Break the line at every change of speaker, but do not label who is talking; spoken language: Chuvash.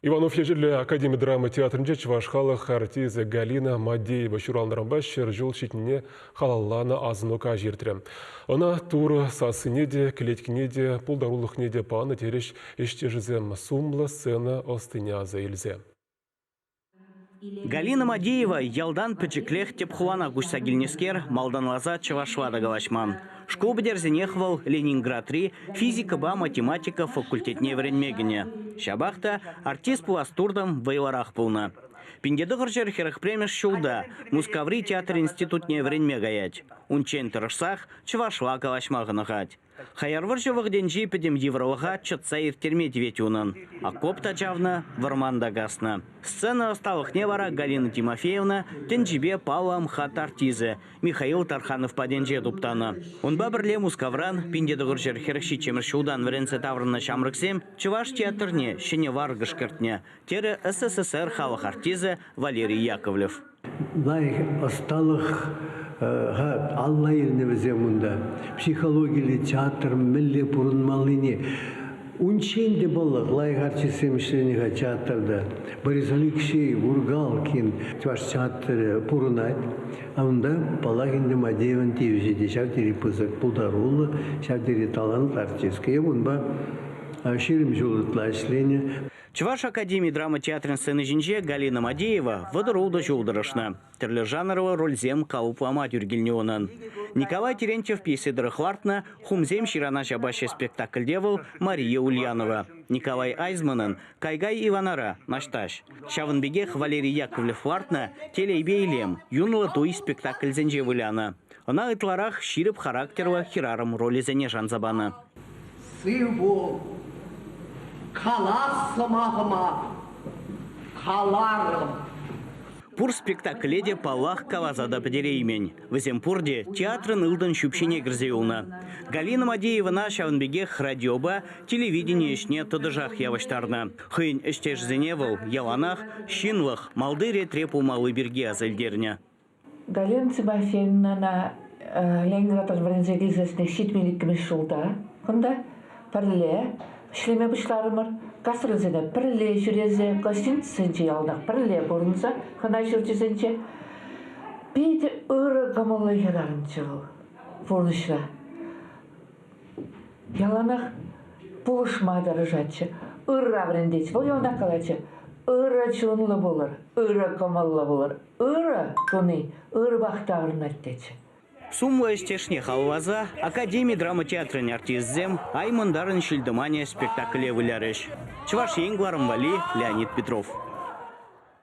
Иванов Ечӗллӗ академи драма театрӗнче чӑваш халӑх артисчӗ Галина Мадеева ҫуралнӑранпа ҫӗр ҫул ҫитнине халалланӑ асӑну каҫ иртрӗ. Ӑна Турӑ сассине те, кӗлеткине те, пултарулӑхне те панӑ, терӗҫ ӗҫтешӗсем сумлӑ сцена ӑстине аса илсе.
Галина Мадеева ялтан пӗчӗклех тӗп хулана куҫса килнӗскер малтанласа чӑвашла та калаҫман. Шкул пӗтерсенех вӑл Ленинградри физикӑпа математика факультетне вӗренме кӗнӗ. Ҫапах та артист пулас туртӑм вӑйлӑрах пулнӑ. Пинтетӑхӑрҫӑр хӗрӗх премӗш ҫулта Мускаври театр институтне вӗренме каять. Унччен тӑрӑшсах чӑвашла калаҫма хӑнӑхать. Хаяр вӑрҫӑ вӑхӑтӗнчи пӗтӗм йывӑрлӑха чӑтса ирттерме тивет унӑн. Окоп та чавнӑ, вӑрман та каснӑ. Сцена ӑсталӑхне вара Галина Тимофеевна тӗнчипе паллӑ МХАТ артисӗ Михаил Тарханов патӗнче туптанӑ. Унпа пӗрле Мускавран пинтетӑкӑрҫӑр хӗрӗх ҫиччӗмӗш ҫултан вӗренсе таврӑннӑ ҫамрӑксем чӑваш театрне ҫӗнӗ варкӑш кӗртнӗ, терӗ СССР халӑх артисӗ Валерий Яковлев. лайӑх ӑсталӑх
алла илнӗ вӗсем унта. Психологиллӗ театр мӗнле пурӑнмаллине унччен те паллах лайӑх артистсем ӗҫленӗ-ха театрта. Борис Алексей Ургалкин чӑваш театрӗ пурӑнать. Унта Палах ӗнтӗ Мадеевӑн тивӗҫӗ те ҫав тери пысӑк пултаруллӑ, ҫав тери талантлӑ артистка. Эп унпа ҫирӗм ҫул ытла ӗҫленӗ. Чӑваш академи
драма театрӗн сцени ҫинче Галина Мадеева вӑтӑру та ҫул тӑрӑшнӑ. Тӗрлӗ жанрлӑ рольсем калӑплама тӳр килнӗ унӑн. Николай Терентьев пьесе тӑрӑх лартнӑ «Хумсем ҫырана ҫапаҫҫӗ» спектакльте вӑл Мария Ульянова, Николай Айзманӑн «Кайгай Иванара» наҫтаҫ, ҫавӑн пекех Валерий Яковлев лартнӑ «Телейпе илем» юнлӑ туй спектакльсенче вылянӑ. Ӑна ытларах ҫирӗп характерлӑ хӗрарӑм ролӗсене шанса панӑ. Сив пул, калас сӑмахӑма, каларӑм. Пур спектакле те, паллах, каласа та пӗтереймен. Вӗсем пурте театрӑн ылтӑн ҫӳпҫине кӗрсе юлнӑ. Галина Мадеевӑна ҫавӑн пекех радиопа, телевидени ӗҫне тӑтӑшах явӑҫтарнӑ. Хӑйӗн ӗҫтешӗсене вӑл яланах ҫынлӑх, малти ретре пулмалли пирки асилтернӗ. Галина
Тимофеевнана Ленинградтан вӗренсе килсессӗн ҫитмен иккӗмӗш ҫулта кунта пӗрле ӗҫлеме пуҫларӑмӑр. Гастрольсене пӗрле ҫӳресе, гостиницӑсенче яланах пӗрле пурӑнса хӑна ҫурчӗсенче питӗ ырӑ кӑмӑллӑ хӗрарӑмччӗ вӑл пурнӑҫра. Яланах пулӑшма тӑрӑшатчӗ, ырра вӗрентетчӗ. Вӑл яланах калатчӗ, ырӑ чунлӑ пулӑр, ырӑ кӑмӑллӑ пулӑр, Ырӑ туни ыр вахтанӑ тет. Сумлӑ
ӗҫтешне халалласа академи драма театрӗн артисчӗсем Ай мӑнтарӑн ҫил-тӑманӗ спектакле вылярӗҫ. Чӑваш Ен кӑларӑм валли, Леонид Петров.